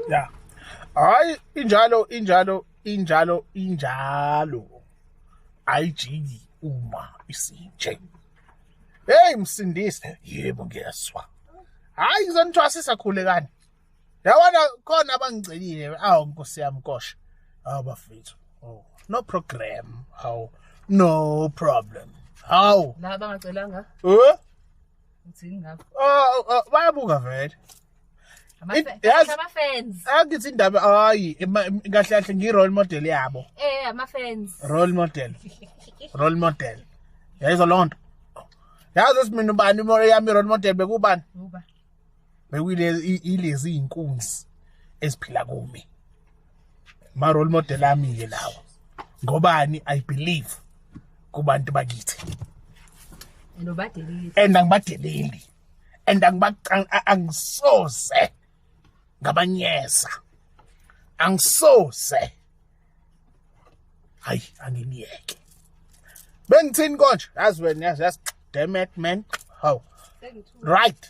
ya hayi injalo injalo injalo injalo ayijiki uma isinje hey msindise yebo ngiyeswa hayi ngizonithwasisa khulekani yabona khona abangigcelile awu nkosi yami kosha awu bafethu oh no program awu no problem awu la bangacelanga eh Uthini ngakho? Oh, oh, bayabuka vele. It- yazi- Ama-fans. Angithi indaba hayi ema- em- kahle kahle ngi role model yabo. Eh, ama-fans. Role model. Role model. Yayizwa lonto. Yazi simina ubani imo yami role model bekubani? Uba. bekuyilezi iy'nkunzi eziphila kumi ma-role model ami-ke lawo ngobani i believe kubantu bakithi and angibadeleli and angisoze ngabanyeza angisoze hayi anginiyeke bengithini konje yazi wena yazi yazi demet man how right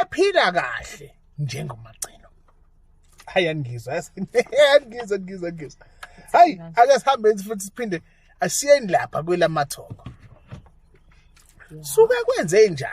ephila kahle njengomagcino hayi angizwa angizwa ngizwa ngizwa hayi ake sihambe futhi siphinde asiyeni lapha kwelamathongo suke kwenze njani